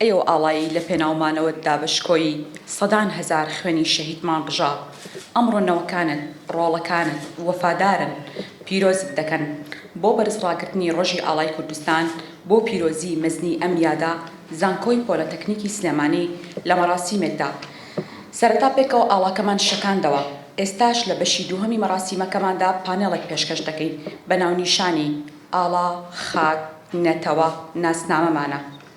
ئەی ئەو ئاڵایی لە پێناو مانەوەت دا بە شکۆی سەدان هەزار خوێنی شەهیدمان ڕژا، ئەمڕۆ نەوەکانت، ڕۆڵەکانت وەفادارن پیرۆزت دەکەن. بۆ بەرز ڕاگرتنی ڕۆژی ئاڵای کوردستان بۆ پیرۆزی مەزنی ئەم یادە، زانکۆی پۆلەتەکنیکی سلێمانی لە مەراسیمێکدا سەرەتا پێکەوە ئاڵاکەمان شەکاندەوە، ئێستاش لە بەشی دووهەمی مەراسیمەکەماندا پانێڵێک پێشکەش دەکەین بە ناونیشانی، ئاڵا، خاک، نەتەوە، ناسنامەمانە.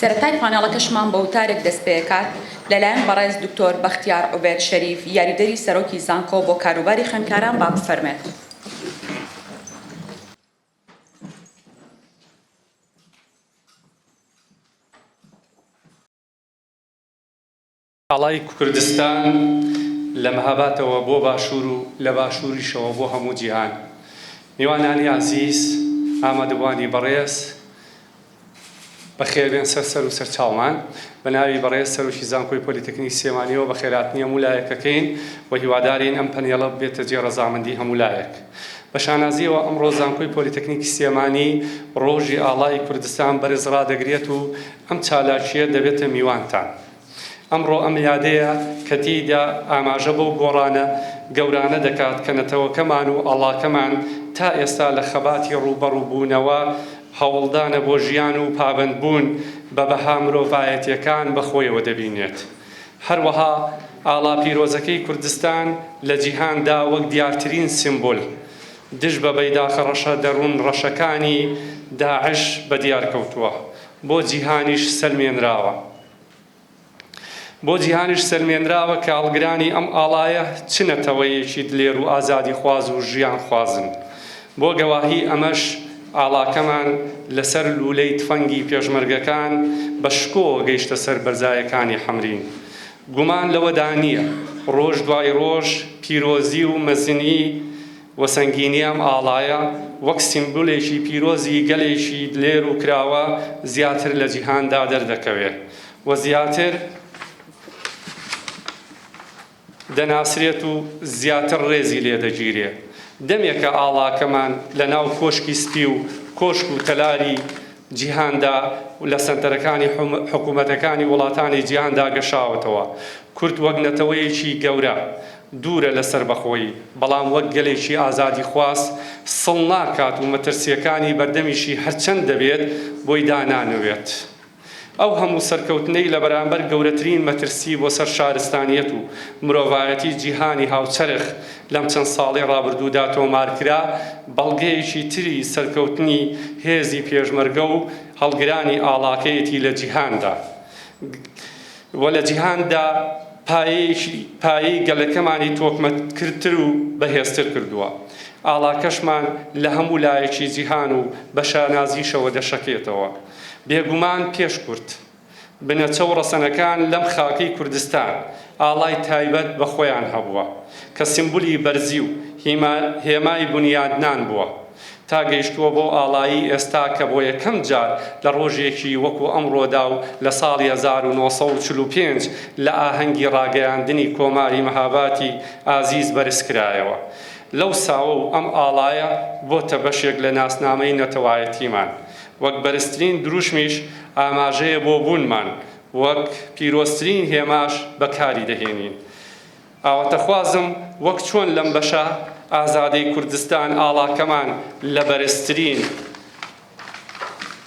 سەرەتای پانێڵەکەشمان بە وتارێک دەستپێکات لەلایەن بەڕێز دکتۆر بەختیار عوبێد شەریف یاریدەری سەرۆکی زانکۆ بۆ کاروباری خوێندکاران با بفەرمێت. ئاڵای کوردستان لە مەهابادەوە بۆ باشوور و لە باشووریشەوە بۆ هەموو جیهان. میوانانی ئازیز، ئامادەبووانی بەڕێز، بەخێربێن سەر سەر و سەر چاومان. بە ناوی بەڕێز سەرۆکی زانکۆی پۆلیتەکنیی سلێمانییەوە بەخێرهاتنی هەموو لایەکەکەین و هیوادارین ئەم پەنێڵە ببێتە جێ ڕەزامەندیی هەموو لایەک. بە شانازییەوە ئەمڕۆ زانکۆی پۆلیتەکنیکی سلێمانی ڕۆژی ئاڵای کوردستان بەرز ڕادەگرێت و ئەم چالاکییە دەبێتە میوانتان. ئەمڕۆ ئەم یادەیە کە تێیدا ئاماژە بەو گۆڕانە گەورانە دەکات کە نەتەوەکەمان و ئاڵاکەمان تا ئێستا لە خەباتی ڕووبەڕووبوونەوە، هەوڵدانە بۆ ژیان و پابەندبوون بە بەها مرۆڤایەتییەکان بە خۆیەوە دەبینێت. هەروەها ئاڵا پیرۆزەکەی کوردستان لە جیهاندا وەک دیارترین سیمبول دژ بە بەیداخە ڕەشە دەروون ڕەشەکانی داعش بە دیار کەوتووە، بۆ جیهانیش سەلمێنراوە. بۆ جیهانیش سەلمێنراوە کە هەڵگرانی ئەم ئاڵایە چ نەتەوەیەکی دلێر و ئازادیخواز و ژیانخوازن. بۆ گەواهیی ئەمەش ئاڵاکەمان لەسەر لوولەی تفەنگی پێشمەرگەکان بە شکۆوە گەیشتە سەر بەرزایەکانی حەمرین. گومان لەوەدا نییە ڕۆژ دوای ڕۆژ پیرۆزی و مەزنی، و سەنگینی ئەم ئاڵایە وەک سیمبولێکی پیرۆزی گەلێکی دلێر و کراوە زیاتر لە جیهاندا دەردەکەوێ و زیاتر دەناسرێت و زیاتر ڕێزی لێ دەگیرێ. دەمێکە ئاڵاکەمان لە ناو کۆشکی سپی و کۆشک و تەلاری جیهاندا و لە سەنتەرەکانی حکوومەتەکانی وڵاتانی جیهاندا گەشاوەتەوە. کورد وەک نەتەوەیەکی گەورە، دوورە لە سەربەخۆیی، بەڵام وەک گەلێکی ئازادیخواز سڵ ناکات و مەترسییەکانی بەردەمیشی هەرچەند دەبێت بۆی دانانەوێت. ئەو هەموو سەرکەوتنەی لە بەرامبەر گەورەترین مەترسی بۆ سەر شارستانییەت و مرۆڤایەتی جیهانی هاوچەرخ لەم چەند ساڵەی ڕابردوودا تۆمارکرا، بەڵگەیەکی تری سەرکەوتنی هێزی پێشمەرگە و هەڵگرانی ئاڵاکەیەتی لە جیهاندا و لە جیهاندا پایەی گەلەکەمانی تۆکمەکردتر و بەهێزتر کردووە. ئاڵاکەشمان لە هەموو لایەکی جیهان و بە شانازیشەوە دەشەکێتەوە. بێگومان پێشکورت. بنەچە و ڕەسەنەکان لەم خاکەی کوردستان ئاڵای تایبەت بە خۆیان هەبووە کە سیمبولی بەرزی و هێمای بونیادنان بووە تا گەیشتووە بۆ ئاڵایی ئێستا کە بۆ یەکەم جار لە ڕۆژێکی وەکو ئەمڕۆدا و لە ساڵی هەزار و نۆ سەد و چل و پێنج لە ئاهەنگی ڕاگەیاندنی کۆماری مهاباتی ئازیز بەرز کرایەوە لەو ساوە و ئەم ئاڵایە بۆتە بەشێک لە ناسنامەی نەتەوایەتیمان وەک بەرزترین دروشمیش ئاماژەیە بۆ بوونمان، وەک پیرۆزترین هێماش بەکاری دەهێنین. ئاواتەخوازم وەک چۆن لەم بەشە ئازادەی کوردستان ئاڵاکەمان لە بەرزترین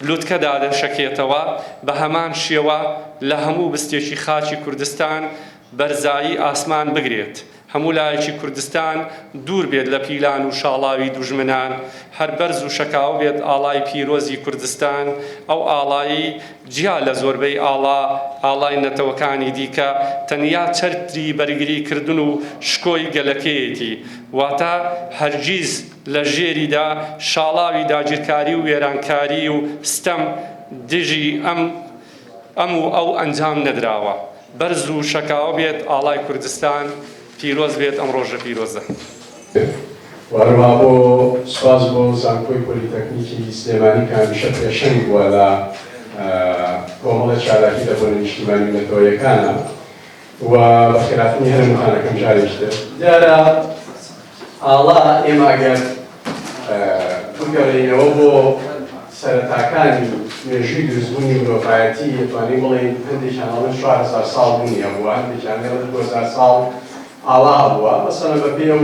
لوتکەدا دەشەکێتەوە، بە هەمان شێوە لە هەموو بستێکی خاکی کوردستان، بەرزایی ئاسمان بگرێت، هەموو لایەکی کوردستان دوور بێت لە پیلان و شاڵاوی دوژمنان، هەر بەرز و شەکاوە بێت ئاڵای پیرۆزی کوردستان، ئەو ئاڵایەی جیا لە زۆربەی ئاڵا، ئاڵای نەتەوەکانی دیکە، تەنیا چەتری بەرگری کردن و شکۆی گەلەکەیەتی، واتە هەرگیز لە ژێریدا شاڵاوی داگیرکاری و وێرانکاری و ستەم دژی ئەم. ئەم و ئەو ئەنجام نەدراوە. بەرز و شەکاوە بێت ئاڵای کوردستان، پیرۆز بێت ئەم ڕۆژە پیرۆزە. وەرمابۆ سوپاس بۆ زانکۆی پۆلیتەکنیکی سلێمانی کە هەمیشە پێشەنگ بووە لە کۆمەڵە چالاکی لە بۆنە نیشتیمانی و نەتەوەیەکانا. و بەخێراتنی هەرم خانەکەم جارێکی تر دیارە ئاڵا ئێمە ئەگەر بگەڕێینەوە بۆ سەرەتاکانی مێژووی دروستبوونی مرۆڤایەتی دەتوانین بڵێین هەندێکیان ئەڵێن چوار هەزار ساڵ بوونیان بووە هەندێکیان لێڵێن دوو هەزار ساڵ ئاڵا بووە مەسەلەن بەپێی ئەو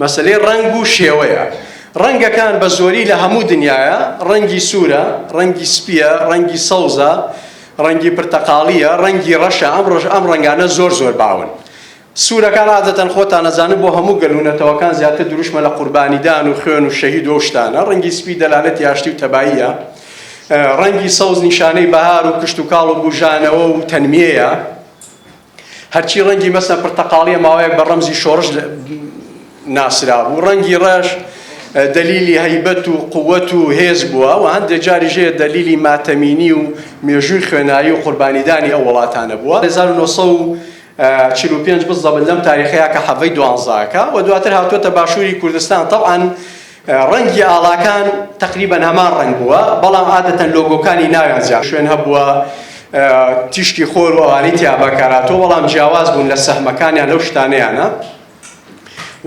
مەسەلەی ڕەنگ و شێوەیە. ڕەنگەکان بە زۆری لە هەموو دنیایە، ڕەنگی سوورە، ڕەنگی سپییە، ڕەنگی سەوزە، ڕەنگی پرتەقاڵییە، ڕەنگی ڕەشە، ئەمڕۆش ئەم ڕەنگانە زۆر زۆر باون. سوورەکان عادەتەن خۆتان ئەزانن بۆ هەموو گەل و نەتەوەکان زیاتر دروشمە لە قوربانیدان و خوێن و شەهید و ئەو شتانە، ڕەنگی سپی دەلالەتی ئاشتی و تەباییە، ڕەنگی سەوز نیشانەی بەهار و کشتوکاڵ و بووژانەوە و تەنمیەیە. هەرچی ڕەنگی مەسە پرتەقاڵیە ماوەیەک بە ڕەمزی شۆڕش ناسرابوو، ڕەنگی ڕەش دەلیلی هەیبەت و قووەت و هێز بووە و هەندێ جاریش هەیە دەلیلی ماتەمینی و مێژووی خوێنایی و قوربانیدانی ئەو وڵاتانە بووە. هەزار و نۆ سەد و چل و پێنج بزدە بن لەم تاریخەیا کە حەڤەی دوانزاکە و دواتر هاتووەتە باشووری کوردستان تەوعەن ڕەنگی ئاڵاکان تەقریبەن هەمان ڕەنگ بووە، بەڵام عادەتەن لۆگۆکانی ناویان جیا شوێن هەبووە، تیشکی خۆر و ئەوانەی تیا بەکارهاتووە بەڵام جیاواز بوون لە سەهمەکانیان لەو شتانەیانە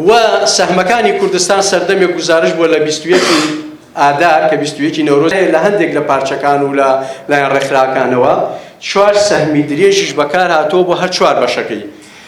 و سەهمەکانی کوردستان سەردەمێک گوزارش بووە لە بیست و یەکی ئادار کە بیست و یەکی نەورۆز لە هەندێک لە پارچەکان و لە لایەن ڕێکخراوەکانەوە چوار سەهمی درێژیش بەکارهاتووە بۆ هەر چوار بەشەکەی.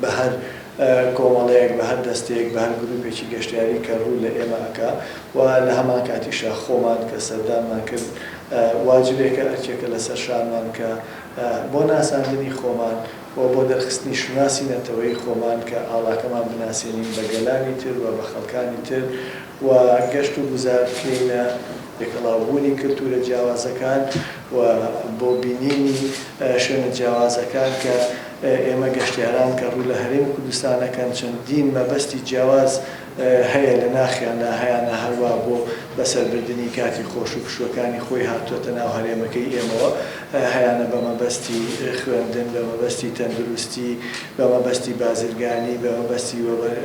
بە هەر کۆمەڵەیەک بە هەر دەستەیەک بە هەر گروپێکی گەشتیاری کە روو لە ئێمە ئەکا و لە هەمان کاتیشا خۆمان کە سەردانمان کرد واجبێکە ئەرکێکە لە سەر شانمان کە بۆ ناساندنی خۆمان و بۆ دەرخستنی شوناسی نەتەوەیی خۆمان کە ئاڵاکەمان بناسێنین بە گەلانی تر و بە خەڵکانی تر و گەشت و گوزار بکەینە لێکەڵاوبوونی کلتوورە جیاوازەکان و بۆ بینینی شوێنە جیاوازەکان کە ئێمە گەشتیاران کە ڕوو لە هەرێمی کوردستان دەکەن چەندین مەبەستی جیاواز هەیە لە ناخیان لا هەیانە هەروا بۆ بەسەر بردنی کاتی خۆش و پشووەکانی خۆی هاتووەتە ناو هەرێمەکەی ئێمەوە هەیانە بە مەبەستی خوێندن بە مەبەستی تەندروستی بە مەبەستی بازرگانی، بە مەبەستی وەبەر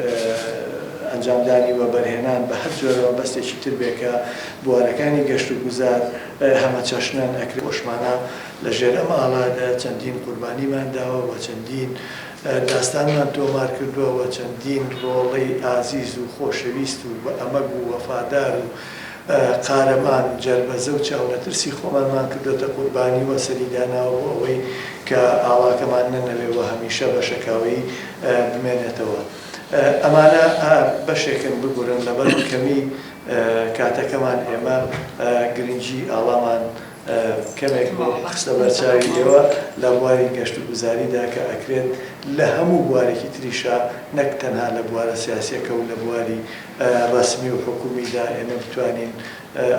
ئەنجامدانی وەبەرهێنان، بە هەر جۆرە مەبەستێکی تر بێ کە بوارەکانی گەشت و گوزار هەمەچەشنن، ئەکرێ خۆشمانە لە ژێر ئەم ئاڵادا چەندین قوربانیمان داوە و چەندین داستانمان تۆمار کردووە و چەندین ڕۆڵەی ئازیز و خۆشەویست و بە ئەمەگ و وەفادار و قارەمان، جەربەزە و چاونەترسی خۆمانمان کردۆتە قوربانی و سەری داناوە بۆ ئەوەی کە ئاڵاکەمان نەنەوێ و هەمیشە بە شەکاوەیی بمێنێتەوە. ئەمانە بەشێکن، ببورن لەبەر کەمی کاتەکەمان ئێمە گرنگی ئاڵامان کەمێک خستە بەر چاوی ئێوە لە بواری گەشت و گوزاری دا کە ئەکرێت لە هەموو بوارێکی تریشا نەک تەنها لە بوارە سیاسیەکە و لە بواری ڕەسمی و حکومیدا ئێمە بتوانین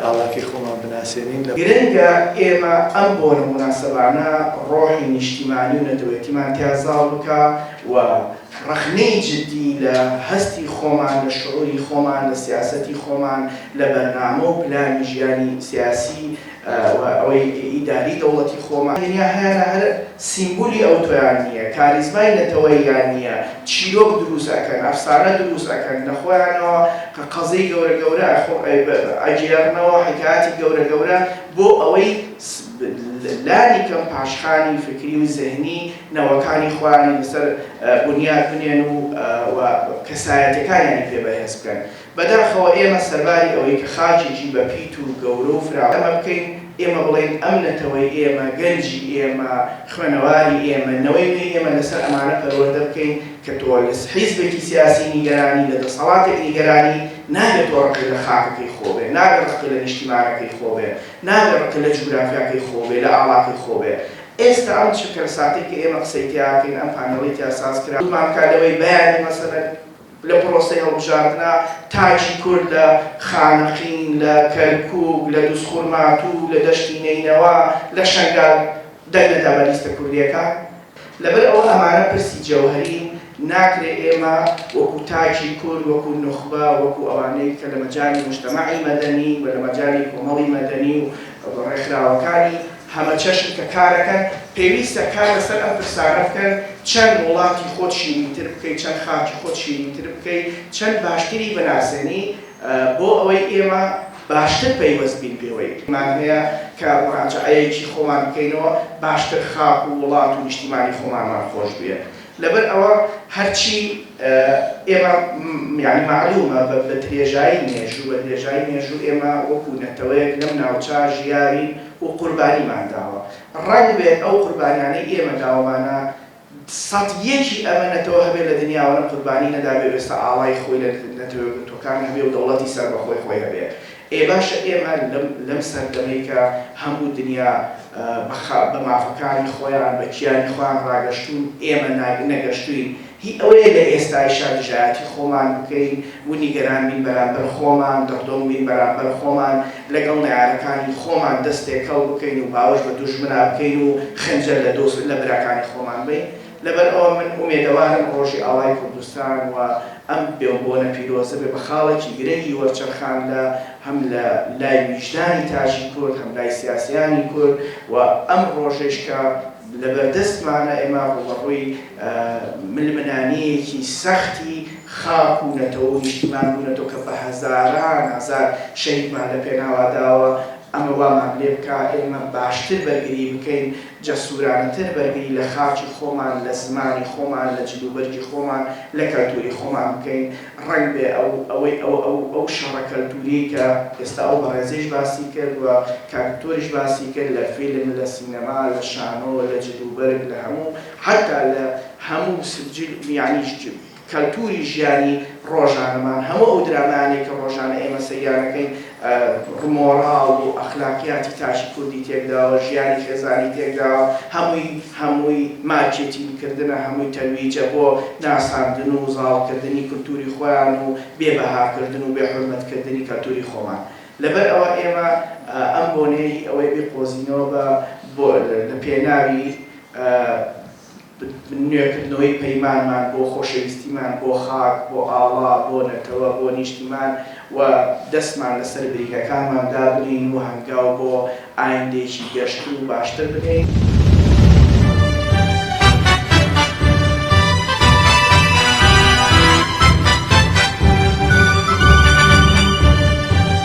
ئاڵاکەی خۆمان بناسێنین. گرنگە ئێمە ئەم بۆنە موناسەبانە ڕۆحی نیشتیمانی و نەتەوەیەتیمان تیا زاڵ بکا و ڕەخنەی جدی لە هەستی خۆمان، لە شعوری خۆمان، لە سیاسەتی خۆمان، لە بەرنامە و پلانی ژیانی سیاسی، و ئەوەی ئیداری دەوڵەتی خۆمان تەنیا هەیانە هەر سیمبولی ئەوتۆیان نیە کاریزمای نەتەوەییان نیە چیرۆک دروست ئەکەن ئەفسانە دروست ئەکەن لە خۆیانەوە قەزیەی گەورە گەورە ئەگێڕنەوە حیکایەتی گەورە گەورە بۆ ئەوەی لانی کەم پاشخانی فکری و زهنی نەوەکانی خۆیانی لەسەر بونیاد بنێن و کەسایەتیەکانیانی پێ بەهێز بکەن. بەداخەوە ئێمە سەرباری ئەوەی کە خاکێکی بە پیت و گەورە و فراوان ئێمە بکەین، ئێمە بڵێین ئەم نەتەوەی ئێمە، گەنجی ئێمە، خوێنەواری ئێمە، نەوەی نوێی ئێمە لەسەر ئەمانە پەروەردە بکەین کە تۆلس حیزبێکی سیاسی نیگەرانی لە دەسەڵاتێک نیگەرانی نابێ تۆ ڕقی لە خاکەکەی خۆ بێ، نابێ ڕقی لە نیشتیمانەکەی خۆ بێ، نابێ ڕقی لە جوگرافیاکەی خۆ بێ، لە ئاڵاکەی خۆ بێ. ئێستا ئەم چرکەلساتەی کە ئێمە قسەی تێیاکەین، ئەم پانێڵەی تیا سازکرا، سوودمان بکا لەوەی بیانوی مەسەلەن، لە پرۆسەی هەڵبژاردنا تاکی کورد لە خانەقین، لە کەرکوک، لە دوزخورماتوو، لە دەشتی نەینەوا، لە شەنگال دەنگ نەدا بە لیستە کوردیەکان. لەبەر ئەوە ئەمانە پرسی جەوهەرین، ناکرێ ئێمە وەکو تاکی کورد، وەکو نوخبە، وەکو ئەوانەی کە لە مەجالی موجتەمەعی مەدەنی و لە مەجالی کۆمەڵی مەدەنی و ڕێکخراوەکانی، هەمەچەشن کە کارەکەن، پێویستە کار لەسەر ئەم پرسانە بکەن، چەند وڵاتی خۆت شیرینتر بکەی، چەند خاکی خۆت شیرینتر بکەی، چەند باشتری بناسێنی، بۆ ئەوەی ئێمە باشتر پەیوەست بین پێوەی. مان هەیە کە موراجەعەیەکی خۆمان بکەینەوە، باشتر خاک و وڵات و نیشتیمانی خۆمانمان خۆش بوێت. لەبەر ئەوە هەرچی ئێمە یانی مەعلوومە بە درێژایی مێژوو بە درێژایی مێژوو ئێمە وەکوو نەتەوەیەک لەم ناوچە ژیاوین و قوربانیمان داوە. ڕەنگ بێ ئەو قوربانیانەی ئێمە داومانە سەد یەکی ئەمە نەتەوە هەبێ لە دنیاوە نە قوربانی نەدابێ و ئێستا ئاڵای خۆی لە نەتەوە یەکگرتووەکان هەبێ و دەوڵەتی سەربەخۆی خۆی هەبێ. ئێ باشە ئێمە لەم سەردەمەی کە هەموو دنیا بە مافەکانی خۆیان بە کیانی خۆیان ڕاگەشتوون ئێمە نەگەشتووین هی ئەوەیە لە ئێستایشا دژایەتی خۆمان بکەین و نیگەران بین بەرامبەر خۆمان دڕدۆنگ بین بەرامبەر خۆمان لەگەڵ نەیارەکانی خۆمان دەست تێکەڵ بکەین و باوەش بە دوژمنا بکەین و خەنجەر لە براکانی خۆمان بەین لەبەر ئەوە من ئومێدەوارم ڕۆژی ئاڵای کوردستان و ئەم بۆنە پیرۆزە بێ بە خاڵێکی گرنگی وەرچەرخان لە هەم لە لای ویژدانی تاکی کورد هەم لای سیاسیانی کورد و ئەم ڕۆژەیش کە لە بەردەستمانە ئێمە ڕووبەڕووی ململانێیەکی سەختی خاک و نەتەوە و نیشتیمان بوونەتەوە کە بە هەزاران هەزار شەهیدمان لە پێناوا داوە ئەمە وامان لێ بکا ئێمە باشتر بەرگری بکەین جەسورانەتر بەرگری لە خاکی خۆمان، لە زمانی خۆمان، لە جلوبەرگی خۆمان، لە کەلتوری خۆمان بکەین، ڕەنگبێ ئەو ئەوەی ئەو ئەو ئەو شەڕە کەلتوریەی کە ئێستا ئەو بەڕێزەیش باسی کرد و کاک دکتۆریش باسی کرد لە فیلم، لە سینەما، لە شانۆ، لە جلوبەرگ، لە هەموو حەتا لە هەموو سجل یانیش کەلتوری ژیانی ڕۆژانەمان، هەموو ئەو درامایانەی کە ڕۆژانە ئێمە سەیریان ئەکەین ڕ مۆڕاڵ و ئەخلاقیاتی تاکی کوردی تێکداوە، ژیانی خێزانی تێکداوە، هەمووی هەمووی مارکێتینگ کردنە، هەمووی تەرویجە بۆ ناساندن و زاڵ کردنی کولتوری خۆیان و بێ بەها کردن و بێ حورمەت کردنی کەلتوری خۆمان. لەبەر ئەوە ئێمە ئەم بۆنەیە هی ئەوەی بیقۆزینەوە بە بۆ لە پێناوی. نوێکردنەوەی پەیمانمان بۆ خۆشەویستیمان بۆ خاک، بۆ ئاڵا، بۆ نەتەوە، بۆ نیشتیمان و دەستمان لەسەر بریکەکانمان دابنێین و هەنگاو بۆ ئایندەیەکی گەشتر و باشتر بنێین.